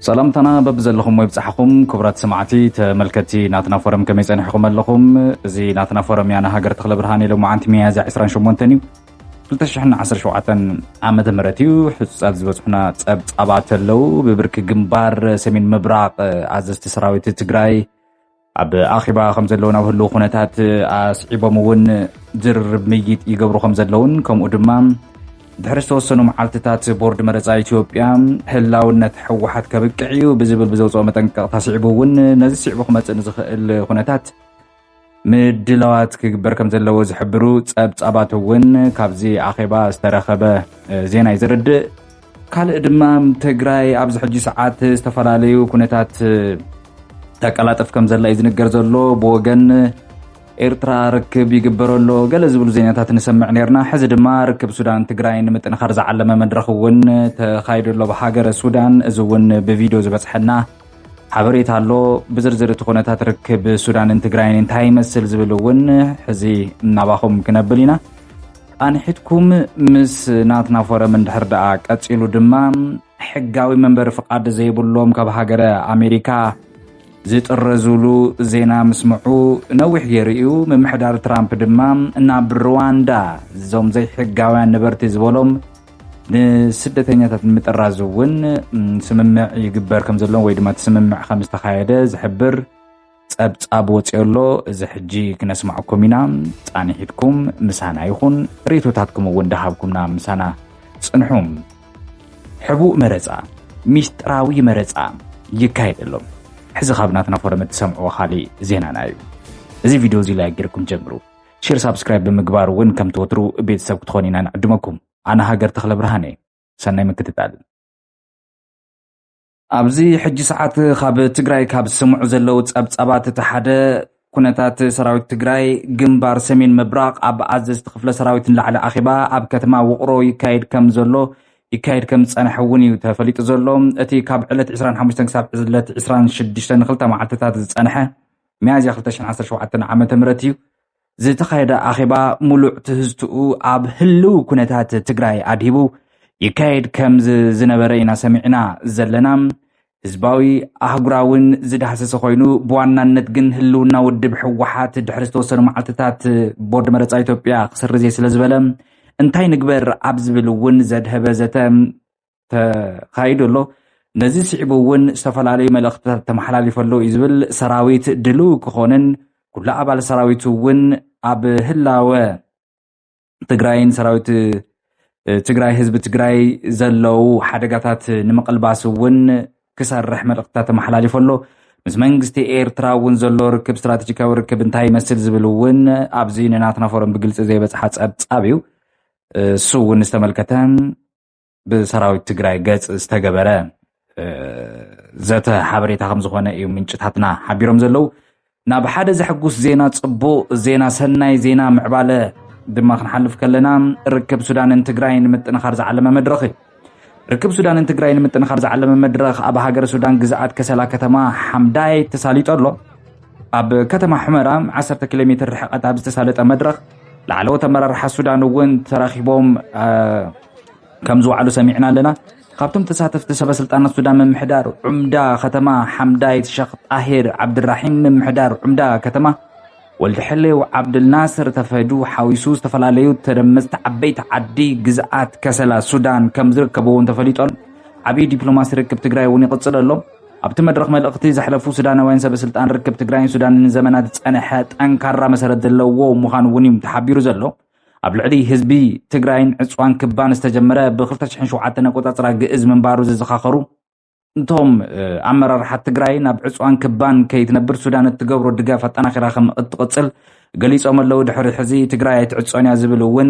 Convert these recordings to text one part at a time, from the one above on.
ሰላምታና በብዘለኹሞ ይብጻሕኹም ክቡራት ሰማዕቲ ተመልከቲ ናትና ፎረም ከመይ ጸኒሕኹም ኣለኹም እዚ ናትና ፎረም ያና ሃገር ተኽለ ብርሃን ኢሎ መዓንቲ ሚያዝያ 28 እዩ 2017 ዓመተ ምህረት እዩ ሕጹጻት ዝበጽሑና ጸብጻባት ኣለዉ ብብርኪ ግንባር ሰሜን ምብራቕ ኣዘዝቲ ሰራዊት ትግራይ ኣብ ኣኼባ ከም ዘለውን ኣብ ህልው ኩነታት ኣስዒቦም እውን ዝርርብ ምይይጥ ይገብሩ ከም ዘለውን ከምኡ ድማ ድሕሪ ዝተወሰኑ መዓልትታት ቦርድ መረፃ ኢትዮጵያ ህላውነት ሕወሓት ከብቅዕ እዩ ብዝብል ብዘውፅኦ መጠንቀቕታ ስዒቡ እውን ነዚ ስዒቡ ክመፅእ ንዝኽእል ኩነታት ምድላዋት ክግበር ከም ዘለዎ ዝሕብሩ ፀብፃባት እውን ካብዚ ኣኼባ ዝተረኸበ ዜና እዩ ዘረድእ ካልእ ድማ ትግራይ ኣብዚ ሕጂ ሰዓት ዝተፈላለዩ ኩነታት ተቀላጥፍ ከም ዘላ እዩ ዝንገር ዘሎ ብወገን ኤርትራ ርክብ ይግበረሎ ገለ ዝብሉ ዜናታት ንሰምዕ ነርና ሕዚ ድማ ርክብ ሱዳን ትግራይ ንምጥንኻር ዝዓለመ መድረኽ እውን ተኻይዱ ኣሎ ብሃገረ ሱዳን እዚ እውን ብቪድዮ ዝበፅሐና ሓበሬታ ኣሎ ብዝርዝር እቲ ኩነታት ርክብ ሱዳንን ትግራይን እንታይ ይመስል ዝብል እውን ሕዚ እናባኹም ክነብል ኢና ኣንሒትኩም ምስ ናትና ፎረም እንድሕር ደኣ ቀጺሉ ድማ ሕጋዊ መንበሪ ፍቓድ ዘይብሎም ካብ ሃገረ ኣሜሪካ ዝጥረዙሉ ዜና ምስምዑ ነዊሕ ገይሩ እዩ ምምሕዳር ትራምፕ ድማ ናብ ሩዋንዳ እዞም ዘይሕጋውያን ነበርቲ ዝበሎም ንስደተኛታት ንምጥራዝ እውን ስምምዕ ይግበር ከም ዘለዎም ወይ ድማ እቲ ስምምዕ ከም ዝተካየደ ዝሕብር ጸብጻብ ወፂኦ ኣሎ እዚ ሕጂ ክነስማዕኩም ኢና ፃንሒትኩም ምሳና ይኹን ሬቶታትኩም እውን ደሃብኩምና ምሳና ፅንሑ ሕቡእ መረፃ ሚስጥራዊ መረፃ ይካየድ ኣሎ ሕዚ ካብ ናትና ፎረም እትሰምዕዎ ካሊእ ዜናና እዩ እዚ ቪድዮ እዚ ላይክ ጌርኩም ጀምሩ ሼር ሳብስክራይብ ብምግባር እውን ከም ትወትሩ ቤተሰብ ክትኾኑ ኢና ንዕድመኩም ኣነ ሃገር ተኽለ ብርሃነ ሰናይ ምክትታል ኣብዚ ሕጂ ሰዓት ካብ ትግራይ ካብ ዝስምዑ ዘለዉ ጸብጻባት እቲ ሓደ ኩነታት ሰራዊት ትግራይ ግንባር ሰሜን ምብራቕ ኣብ ኣዘዝቲ ክፍለ ሰራዊት ንላዕሊ ኣኼባ ኣብ ከተማ ውቕሮ ይካየድ ከም ዘሎ ይካየድ ከም ዝፀንሐ እውን እዩ ተፈሊጡ ዘሎ እቲ ካብ ዕለት 25 ክሳብ ዕለት 26 ንክልተ መዓልትታት ዝፀንሐ ሚያዝያ 217 ዓ ም እዩ ዝተኻየደ ኣኼባ ሙሉዕ ትህዝትኡ ኣብ ህልው ኩነታት ትግራይ ኣድሂቡ ይካየድ ከምዝ ዝነበረ ኢና ሰሚዕና ዘለና። ህዝባዊ ኣህጉራውን ዝዳህሰሰ ኮይኑ ብዋናነት ግን ህልውና ውድብ ሕወሓት ድሕሪ ዝተወሰኑ መዓልትታት ቦርድ መረፃ ኢትዮጵያ ክስርዝ እየ ስለ ዝበለ እንታይ ንግበር ኣብ ዝብል እውን ዘድሀበ ዘተ ተኻይዱ ኣሎ። ነዚ ስዒቡ እውን ዝተፈላለዩ መልእኽትታት ተመሓላሊፈ ኣሎ እዩ ዝብል ሰራዊት ድልው ክኾንን ኩሉ ኣባል ሰራዊቱ እውን ኣብ ህላወ ትግራይን ሰራዊት ትግራይ ህዝቢ ትግራይ ዘለው ሓደጋታት ንምቕልባስ እውን ክሰርሕ መልእኽትታት ተመሓላሊፈ ኣሎ። ምስ መንግስቲ ኤርትራ እውን ዘሎ ርክብ ስትራቴጂካዊ ርክብ እንታይ ይመስል ዝብል እውን ኣብዚ ንናትና ፎረም ብግልፂ ዘይበፅሓ ፀብፃብ እዩ እሱ እውን ዝተመልከተ ብሰራዊት ትግራይ ገጽ ዝተገበረ ዘተ ሓበሬታ ከም ዝኾነ እዩ ምንጭታትና ሓቢሮም ዘለዉ ናብ ሓደ ዘሐጉስ ዜና ጽቡቕ ዜና ሰናይ ዜና ምዕባለ ድማ ክንሓልፍ ከለና ርክብ ሱዳንን ትግራይ ንምጥንኻር ዝዓለመ መድረኽ እዩ ርክብ ሱዳንን ትግራይ ንምጥንኻር ዝዓለመ መድረኽ ኣብ ሃገር ሱዳን ግዝኣት ከሰላ ከተማ ሓምዳይ ተሳሊጦ ኣሎ ኣብ ከተማ ሕመራ 1 ኪሎ ሜትር ርሕቐት ኣብ ዝተሳለጠ መድረኽ ላዕለዎት ኣመራርሓ ሱዳን እውን ተራኺቦም ከም ዝወዓሉ ሰሚዕና ኣለና። ካብቶም ተሳተፍቲ ሰበ ስልጣናት ሱዳን ምምሕዳር ዑምዳ ከተማ ሓምዳይት ሸኽ ጣሂር ዓብድራሒም፣ ምምሕዳር ዑምዳ ከተማ ወልድ ሕሌው ዓብድልናስር ተፈዱ ሓዊሱ ዝተፈላለዩ ተደመፅቲ ዓበይቲ ዓዲ ግዝኣት ከሰላ ሱዳን ከም ዝርከበዎም ተፈሊጡ ኣሎ። ዓብዪ ዲፕሎማሲ ርክብ ትግራይ እውን ይቕፅል ኣሎ። ኣብቲ መድረኽ መልእኽቲ ዘሕለፉ ሱዳናውያን ሰበ ስልጣን ርክብ ትግራይን ሱዳንን ንዘመናት ዝፀንሐ ጠንካራ መሰረት ዘለዎ ምዃኑ እውን እዩ ተሓቢሩ ዘሎ። ኣብ ልዕሊ ህዝቢ ትግራይን ዕፅዋን ክባን ዝተጀመረ ብ2007 ኣቆፃፅራ ግእዝ ምንባሩ ዝዘኻኸሩ እቶም ኣመራርሓ ትግራይ ናብ ዕፅዋን ክባን ከይትነብር ሱዳን እትገብሮ ድጋፍ ኣጠናኺራ ከም እትቕፅል ገሊፆም ኣለዉ ድሕሪ ሕዚ ትግራይ ኣይትዕፆን እያ ዝብል እውን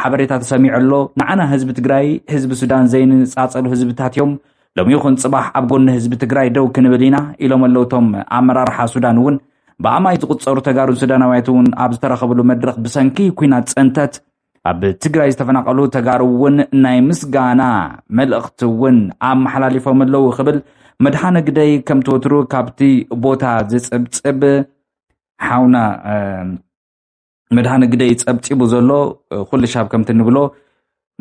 ሓበሬታ ተሰሚዑ ኣሎ ንዓና ህዝቢ ትግራይ ህዝቢ ሱዳን ዘይንፃፀሉ ህዝብታት እዮም ሎሚ ይኹን ፅባሕ ኣብ ጎኒ ህዝቢ ትግራይ ደው ክንብል ኢና ኢሎም ኣለዉ እቶም ኣመራርሓ ሱዳን እውን ብኣማይ ዝቁፀሩ ተጋሩ ሱዳናውያት እውን ኣብ ዝተረኸብሉ መድረኽ ብሰንኪ ኩናት ፀንተት ኣብ ትግራይ ዝተፈናቐሉ ተጋሩ እውን ናይ ምስጋና መልእኽቲ እውን ኣመሓላሊፎም ኣለዉ ክብል መድሓነ ግደይ ከምቲ ወትሩ ካብቲ ቦታ ዝፅብፅብ ሓውና መድሃነ ግደይ ጸብጺቡ ዘሎ ኩሉ ሻብ ከምቲ ንብሎ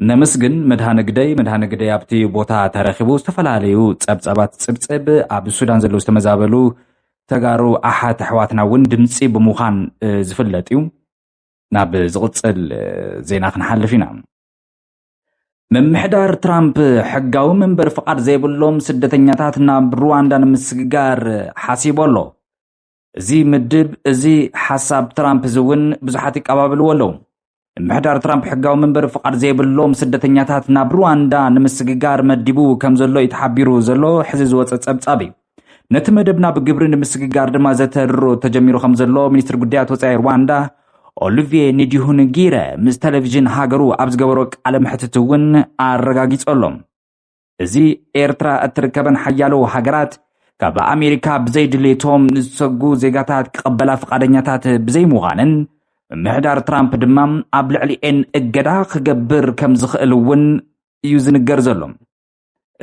ነምስግን መድሃነ ግደይ መድሃነ ግደይ ኣብቲ ቦታ ተረኪቡ ዝተፈላለዩ ጸብጸባት ጽብጽብ ኣብ ሱዳን ዘለዉ ዝተመዛበሉ ተጋሩ ኣሓት ኣሕዋትና እውን ድምፂ ብምዃን ዝፍለጥ እዩ ናብ ዝቕፅል ዜና ክንሓልፍ ኢና ምምሕዳር ትራምፕ ሕጋዊ መንበሪ ፍቓድ ዘይብሎም ስደተኛታት ናብ ሩዋንዳ ንምስግጋር ሓሲቡ ኣሎ እዚ ምድብ እዚ ሓሳብ ትራምፕ እዚ እውን ብዙሓት ይቀባበልዎ ኣለዉ። ምሕዳር ትራምፕ ሕጋዊ መንበሪ ፍቓድ ዘይብሎም ስደተኛታት ናብ ሩዋንዳ ንምስግጋር መዲቡ ከም ዘሎ እዩ ተሓቢሩ ዘሎ ሕዚ ዝወፀ ፀብፃብ እዩ ነቲ መደብ ናብ ግብሪ ንምስግጋር ድማ ዘተድሮ ተጀሚሩ ከም ዘሎ ሚኒስትር ጉዳያት ወፃኢ ሩዋንዳ ኦሊቪየ ኒዲሁንጊረ ምስ ቴሌቭዥን ሃገሩ ኣብ ዝገበሮ ቃለ መሕትት እውን ኣረጋጊፆ ኣሎ እዚ ኤርትራ እትርከበን ሓያሎ ሃገራት ካብ ኣሜሪካ ብዘይድሌቶም ንዝሰጉ ዜጋታት ክቐበላ ፍቓደኛታት ብዘይምዃነን ምምሕዳር ትራምፕ ድማ ኣብ ልዕሊኤን እገዳ ክገብር ከም ዝኽእል እውን እዩ ዝንገር ዘሎ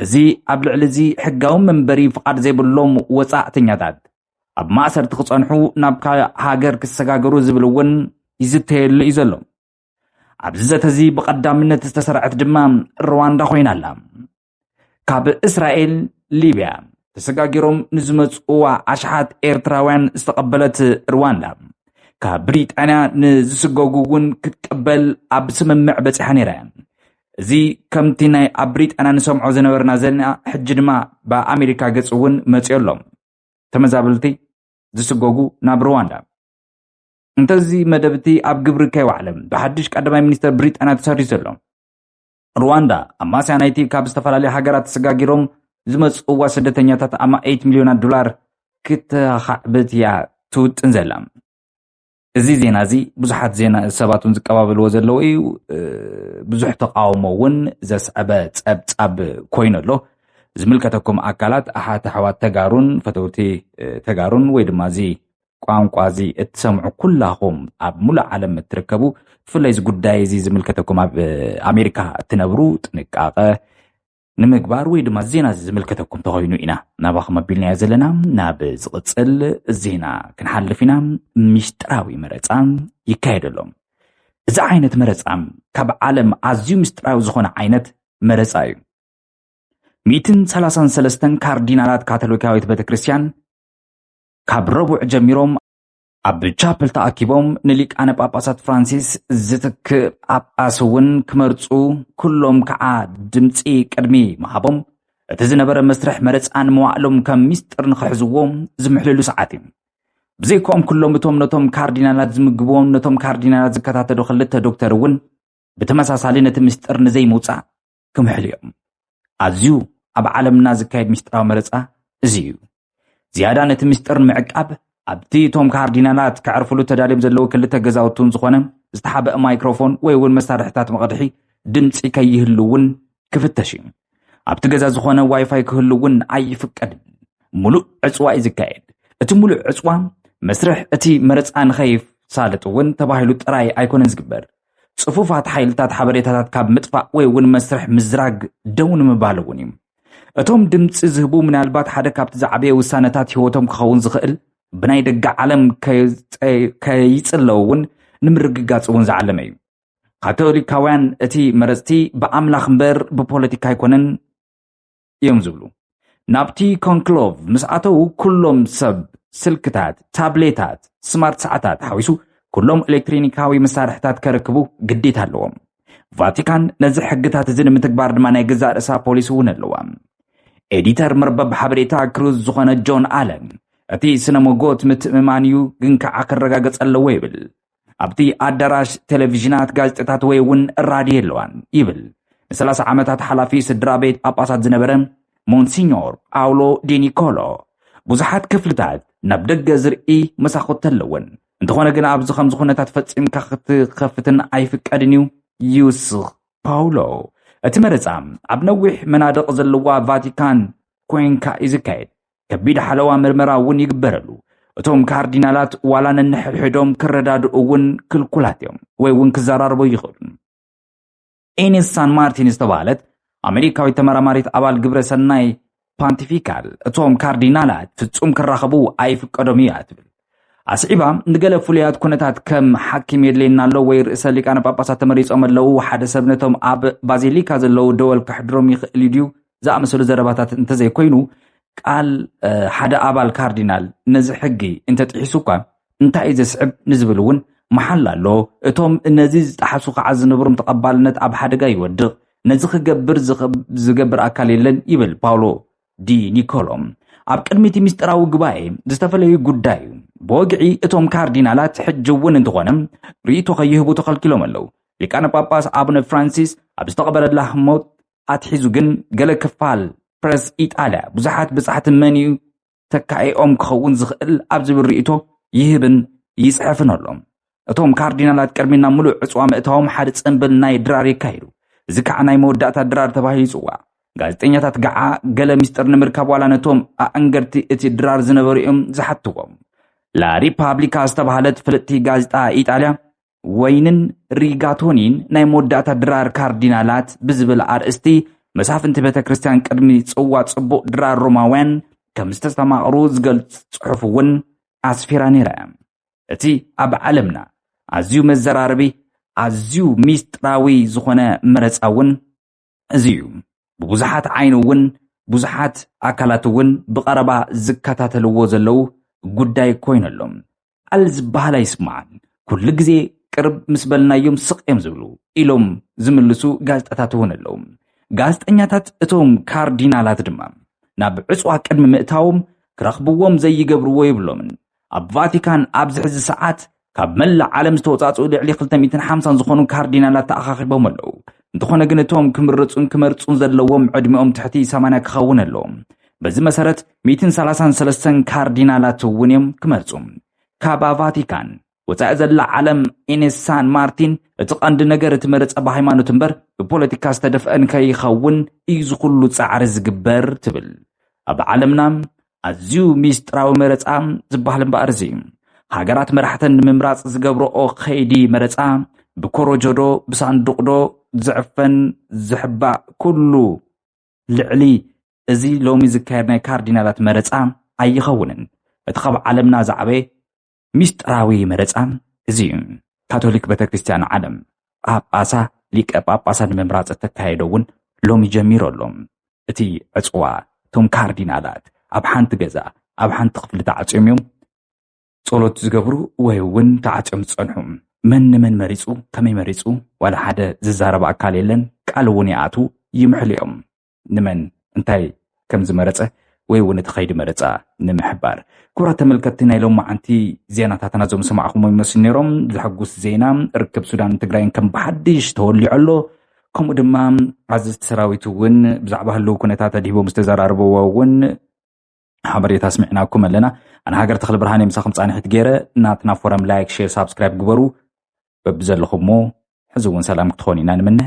እዚ ኣብ ልዕሊ እዚ ሕጋዊ መንበሪ ፍቓድ ዘይብሎም ወፃእተኛታት ኣብ ማእሰርቲ ክፀንሑ ናብ ካልእ ሃገር ክሰጋገሩ ዝብል እውን ይዝተየሉ እዩ ዘሎ ኣብዚ ዘተ እዚ ብቐዳምነት ዝተሰርዐት ድማ ሩዋንዳ ኮይና ኣላ ካብ እስራኤል ሊብያ ተሰጋጊሮም ንዝመፅእዋ ኣሽሓት ኤርትራውያን ዝተቐበለት ሩዋንዳ ካብ ብሪጣንያ ንዝስገጉ እውን ክትቅበል ኣብ ስምምዕ በፂሓ ነይራ እያ እዚ ከምቲ ናይ ኣብ ብሪጣንያ ንሰምዖ ዝነበርና ዘለና ሕጂ ድማ ብኣሜሪካ ገፅ እውን መፅዮ ኣሎ ተመዛበልቲ ዝስገጉ ናብ ሩዋንዳ እንተዚ መደብ እቲ ኣብ ግብሪ ከይወዓለ ብሓድሽ ቀዳማይ ሚኒስተር ብሪጣንያ ተሰሪዙ ዘሎ ሩዋንዳ ኣማስያ ናይቲ ካብ ዝተፈላለዩ ሃገራት ተሰጋጊሮም ዝመፅእዋ ስደተኛታት ኣማኢት ሚልዮናት ዶላር ክተኻዕብት እያ ትውጥን ዘላ እዚ ዜና እዚ ብዙሓት ዜና ሰባት እውን ዝቀባበልዎ ዘለዎ እዩ ብዙሕ ተቃውሞ እውን ዘስዕበ ፀብፃብ ኮይኑ ኣሎ ዝምልከተኩም ኣካላት ኣሓት ኣሕዋት ተጋሩን ፈተውቲ ተጋሩን ወይ ድማ እዚ ቋንቋ እዚ እትሰምዑ ኩላኹም ኣብ ሙሉእ ዓለም እትርከቡ ብፍላይ እዚ ጉዳይ እዚ ዝምልከተኩም ኣብ ኣሜሪካ እትነብሩ ጥንቃቐ ንምግባር ወይ ድማ ዜና እዚ ዝምልከተኩም ተኮይኑ ኢና ናባኹም ኣቢልናዮ ዘለና ናብ ዝቕፅል ዜና ክንሓልፍ ኢና ሚስጥራዊ መረፃ ይካየደሎም እዚ ዓይነት መረፃ ካብ ዓለም ኣዝዩ ምስጢራዊ ዝኾነ ዓይነት መረፃ እዩ ሚእትን ሰላሳን ሰለስተን ካርዲናላት ካቶሊካዊት ቤተ ክርስትያን ካብ ረቡዕ ጀሚሮም ኣብ ቻፕል ተኣኪቦም ንሊቃነ ጳጳሳት ፍራንሲስ ዝትክእ ጳጳስ እውን ክመርፁ ኩሎም ከዓ ድምፂ ቅድሚ ምሃቦም እቲ ዝነበረ መስርሕ መረፃ ንመዋእሎም ከም ሚስጥር ንክሕዝዎ ዝምሕልሉ ሰዓት እዩ ብዘይኮኦም ኩሎም እቶም ነቶም ካርዲናላት ዝምግብዎም ነቶም ካርዲናላት ዝከታተሉ ክልተ ዶክተር እውን ብተመሳሳሊ ነቲ ምስጢር ንዘይምውፃእ ክምሕሉ እዮም። ኣዝዩ ኣብ ዓለምና ዝካየድ ምስጢራዊ መረጻ እዚ እዩ። ዝያዳ ነቲ ምስጢር ንምዕቃብ ኣብቲ እቶም ካርዲናላት ከዕርፍሉ ተዳልዮም ዘለዉ ክልተ ገዛውቱን ዝኾነ ዝተሓበአ ማይክሮፎን ወይ እውን መሳርሕታት መቕድሒ ድምፂ ከይህሉ እውን ክፍተሽ እዩ። ኣብቲ ገዛ ዝኾነ ዋይፋይ ክህሉ እውን ኣይፍቀድን። ሙሉእ ዕፅዋ እዩ ዝካየድ። እቲ ሙሉእ ዕፅዋ መስርሕ እቲ መረፃ ንኸይሳለጥ እውን ተባሂሉ ጥራይ ኣይኮነን ዝግበር። ጽፉፋት ሓይልታት ሓበሬታታት ካብ ምጥፋእ ወይ እውን መስርሕ ምዝራግ ደው ንምባል እውን እዩ እቶም ድምፂ ዝህቡ ምናልባት ሓደ ካብቲ ዝዓበየ ውሳነታት ህይወቶም ክኸውን ዝኽእል ብናይ ደገ ዓለም ከይጽለው እውን ንምርግጋጽ እውን ዝዓለመ እዩ ካቶሊካውያን እቲ መረፅቲ ብኣምላኽ እምበር ብፖለቲካ ኣይኮነን እዮም ዝብሉ። ናብቲ ኮንክሎቭ ምስ ኣተዉ ኩሎም ሰብ ስልክታት፣ ታብሌታት፣ ስማርት ሰዓታት ሓዊሱ ኩሎም ኤሌክትሪኒካዊ መሳርሕታት ከረክቡ ግዴታ ኣለዎም። ቫቲካን ነዚ ሕግታት እዚ ንምትግባር ድማ ናይ ገዛእ ርእሳ ፖሊሲ እውን ኣለዋ። ኤዲተር መርበብ ሓበሬታ ክሩዝ ዝኾነ ጆን ኣለን እቲ ስነ ሞጎት ምትእምማን እዩ ግን ከዓ ክረጋገፅ ኣለዎ ይብል። ኣብቲ ኣዳራሽ ቴሌቪዥናት፣ ጋዜጣታት ወይ እውን ራድዮ የለዋን ይብል ንሰላሳ ዓመታት ሓላፊ ስድራ ቤት ጳጳሳት ዝነበረ ሞንሲኞር ጳውሎ ዲኒኮሎ። ብዙሓት ክፍልታት ናብ ደገ ዝርኢ መሳኹቲ ኣለወን፣ እንተኾነ ግን ኣብዚ ከምዚ ኩነታት ፈጺምካ ክትከፍትን ኣይፍቀድን እዩ ይውስኽ ፓውሎ። እቲ መረጻ ኣብ ነዊሕ መናድቕ ዘለዋ ቫቲካን ኮይንካ እዩ ዝካየድ። ከቢድ ሓለዋ ምርመራ እውን ይግበረሉ እቶም ካርዲናላት ዋላ ነንሕድሕዶም ክረዳድኡ እውን ክልኩላት እዮም ወይ እውን ክዘራርቦ ይኽእሉ ኤኒስ ሳን ማርቲን ዝተባሃለት ኣሜሪካዊት ተመራማሪት ኣባል ግብረ ሰናይ ፓንቲፊካል እቶም ካርዲናላት ፍጹም ክራኸቡ ኣይፍቀዶም እዩ እያ ትብል ኣስዒባ ንገለ ፍሉያት ኩነታት ከም ሓኪም የድልየና ኣሎ ወይ ርእሰ ሊቃነ ጳጳሳት ተመሪጾም ኣለዉ ሓደ ሰብ ነቶም ኣብ ባዚሊካ ዘለዉ ደወል ከሕድሮም ይኽእል እዩ ድዩ ዝኣመሰሉ ዘረባታት እንተዘይኮይኑ ቃል ሓደ ኣባል ካርዲናል ነዚ ሕጊ እንተጥሒሱ እኳ እንታይ እዩ ዘስዕብ ንዝብል እውን መሓላ ኣሎ እቶም ነዚ ዝጠሓሱ ከዓ ዝነብሮም ተቐባልነት ኣብ ሓደጋ ይወድቕ ነዚ ክገብር ዝገብር ኣካል የለን ይብል ፓውሎ ዲ ኒኮሎ ኣብ ቅድሚ እቲ ምስጢራዊ ጉባኤ ዝተፈለዩ ጉዳይ እዩ። ብወግዒ እቶም ካርዲናላት ሕጂ እውን እንተኾነ ርእይቶ ከይህቡ ተኸልኪሎም ኣለዉ። ሊቃነ ጳጳስ ኣቡነ ፍራንሲስ ኣብ ዝተቐበረላ ህሞት ኣትሒዙ ግን ገለ ክፋል ፕረስ ኢጣልያ ብዙሓት ብጻሕቲ መን እዩ ተካኢኦም ክኸውን ዝኽእል ኣብ ዝብል ርእይቶ ይህብን ይጽሕፍን ኣሎ። እቶም ካርዲናላት ቅድሚ ናብ ምሉእ ዕፅዋ ምእታዎም ሓደ ፅንብል ናይ ድራር የካይዱ እዚ ከዓ ናይ መወዳእታ ድራር ተባሂሉ ይፅዋዕ ጋዜጠኛታት ገዓ ገለ ምስጢር ንምርካብ ዋላ ነቶም ኣዕንገርቲ እቲ ድራር ዝነበሩ እዮም ዝሓትዎም ላሪፓብሊካ ዝተባሃለት ፍልጥቲ ጋዜጣ ኢጣልያ ወይንን ሪጋቶኒን ናይ መወዳእታ ድራር ካርዲናላት ብዝብል ኣርእስቲ መሳፍንቲ ቤተ ክርስቲያን ቅድሚ ጽዋ ጽቡቕ ድራር ሮማውያን ከም ዝተስተማቕሩ ዝገልጽ ጽሑፍ እውን ኣስፊራ ነይራ እቲ ኣብ ዓለምና ኣዝዩ መዘራረቢ ኣዝዩ ሚስጥራዊ ዝኾነ መረፃ እውን እዚ እዩ። ብብዙሓት ዓይኒ እውን ብዙሓት ኣካላት እውን ብቐረባ ዝከታተልዎ ዘለዉ ጉዳይ ኮይኑ ኣሎ። ቃል ዝበሃል ኣይስማዕን፣ ኩሉ ግዜ ቅርብ ምስ በልናዮም ስቕ እዮም ዝብሉ ኢሎም ዝምልሱ ጋዜጣታት እውን ኣለዉ። ጋዜጠኛታት እቶም ካርዲናላት ድማ ናብ ዕፅዋ ቅድሚ ምእታዎም ክረኽብዎም ዘይገብርዎ የብሎምን። ኣብ ቫቲካን ኣብዚ ሕዚ ሰዓት ካብ መላእ ዓለም ዝተወፃፅኡ ልዕሊ 250 ዝኾኑ ካርዲናላት ተኣኻኺቦም ኣለዉ እንተኾነ ግን እቶም ክምርፁን ክመርፁን ዘለዎም ዕድሚኦም ትሕቲ 80 ክኸውን ኣለዎም በዚ መሰረት 133 ካርዲናላት እውን እዮም ክመርፁ ካብ ቫቲካን ወፃኢ ዘላ ዓለም ኢኔስ ሳን ማርቲን እቲ ቀንዲ ነገር እቲ መረፀ ብሃይማኖት እምበር ብፖለቲካ ዝተደፍአን ከይኸውን እዩ ዝኹሉ ፃዕሪ ዝግበር ትብል ኣብ ዓለምና ኣዝዩ ሚስጥራዊ መረፃ ዝበሃል እምበኣር እዚ ሃገራት መራሕተን ንምምራፅ ዝገብረኦ ከይዲ መረፃ ብኮረጆዶ ብሳንዱቕዶ ዝዕፈን ዝሕባእ ኩሉ ልዕሊ እዚ ሎሚ ዝካየድ ናይ ካርዲናላት መረፃ ኣይኸውንን። እቲ ካብ ዓለምና ዝዓበየ ሚስጥራዊ መረፃ እዚ ካቶሊክ ቤተክርስትያን ዓለም ጳጳሳ ሊቀ ጳጳሳ ንምምራፅ እተካየዶ እውን ሎሚ ጀሚሩ ኣሎ። እቲ ዕፅዋ እቶም ካርዲናላት ኣብ ሓንቲ ገዛ ኣብ ሓንቲ ክፍሊ ተዓፅዮም እዮም ጸሎት ዝገብሩ ወይ እውን ተዓፅዮም ዝፀንሑ። መን ንመን መሪፁ ከመይ መሪፁ ዋላ ሓደ ዝዛረብ ኣካል የለን ቃል እውን ይኣትዉ ይምሕሉ እዮም። ንመን እንታይ ከም ዝመረጸ ወይ እውን እቲ ከይዲ መረፃ ንምሕባር ክብራት ተመልከትቲ ናይ ሎም መዓንቲ ዜናታትና ዞም ሰማዕኹሞ ይመስሉ ነይሮም ዘሐጉስ ዜና ርክብ ሱዳን ትግራይን ከም ብሓድሽ ተወሊዑ ኣሎ ከምኡ ድማ ኣዘዝቲ ሰራዊት እውን ብዛዕባ ህልው ኩነታት ኣድሂቦም ዝተዘራርበዎ እውን ሓበሬታ ስሚዕናኩም ኣለና ኣነ ሃገር ተኽሊ ብርሃን እየ ምሳኹም ፃንሒት ገይረ ናትና ፎረም ላይክ ሼር ሳብስክራይብ ግበሩ በብዘለኹሞ ሕዚ እውን ሰላም ክትኾኑ ኢና ንምነ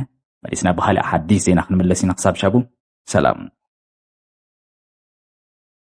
መሊስና ብካሊእ ሓዲስ ዜና ክንምለስ ኢና ክሳብ ሻቡ ሰላም